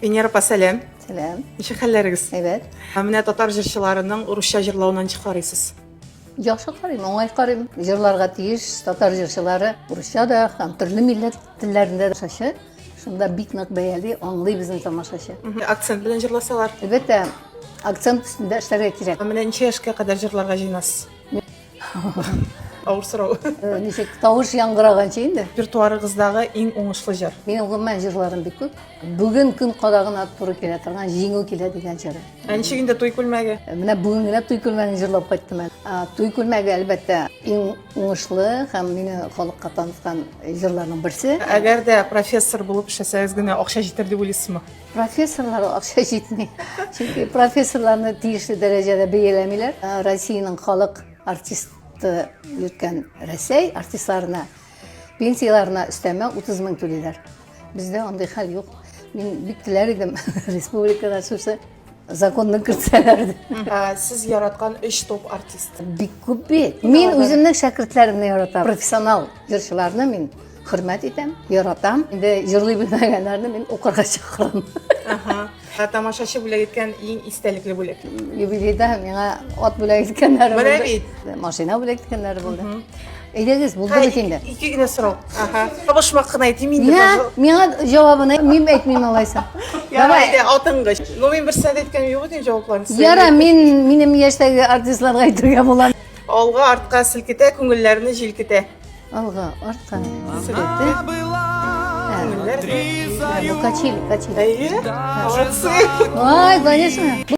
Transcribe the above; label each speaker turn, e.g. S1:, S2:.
S1: Венера апа, сәлам. Сәлам. Ничек хәлләрегез? Әйбәт. Менә татар җырчыларының урысча җырлавына ничек карыйсыз? Яхшы карыйм, уңай карыйм. Җырларга тиеш татар җырчылары урысча да һәм төрле милләт телләрендә дә шашы. Шунда бик нык бәяли, аңлый безнең тамашачы. Акцент белән җырласалар. Әлбәттә, акцент өстендә эшләргә кирәк. Менә ничә яшькә кадәр җырларга җыенасыз? Авыр сорау. Э, ничек тавыш яңгыраганчы инде. Репертуарыгыздагы иң уңышлы җыр. Минем гомумән җырларым бик күп. Бүген көн кадагына туры килә торган Җиңү килә дигән җыры. Ә ничек инде туй күлмәге? Э, менә бүген генә туй күлмәген җырлап кайттым әле. Туй күлмәге әлбәттә иң уңышлы һәм мине халыкка таныткан җырларның берсе. Әгәр дә профессор булып эшләсәгез генә акча җитәр дип уйлыйсызмы? Профессорларга акча җитми. Чөнки профессорларны тиешле дәрәҗәдә бәяләмиләр. Ә Россиянең халык артисты йөрткән Рәсәй артистларына пенсияләренә өстәмә 30 мең түлиләр. Бездә андый хәл юк. Мин бик теләр идем республикада шушы законны кертсәләр ә, сез яраткан өч топ артист бик күп бит мин үземнең шәкертләремне яратам профессионал җырчыларны мин хөрмәт итәм яратам инде җырлый белмәгәннәрне мин укырга чакырам ә, тамашачы бүләк иткән иң истәлекле бүләк юбилейда миңа ат бүләк иткәннәре менә бит машина бүләк иткәннәре булды Әйдәгез, булды бит инде. Ике генә сорау. Аха. Табышмак кына әйтим инде. Миңа, миңа җавабын мин әйтмим алайса. Давай. Атыңгыч. Ну мин берсенә дә әйткән юк идем җавапларын. Яра, мин минем яшьтәге артистларга әйтергә була. Алга, артка селкетә, күңелләрне җилкетә. Алга, артка селкетә. Качили, качили. Әйе? Молодцы. Ай, конечно.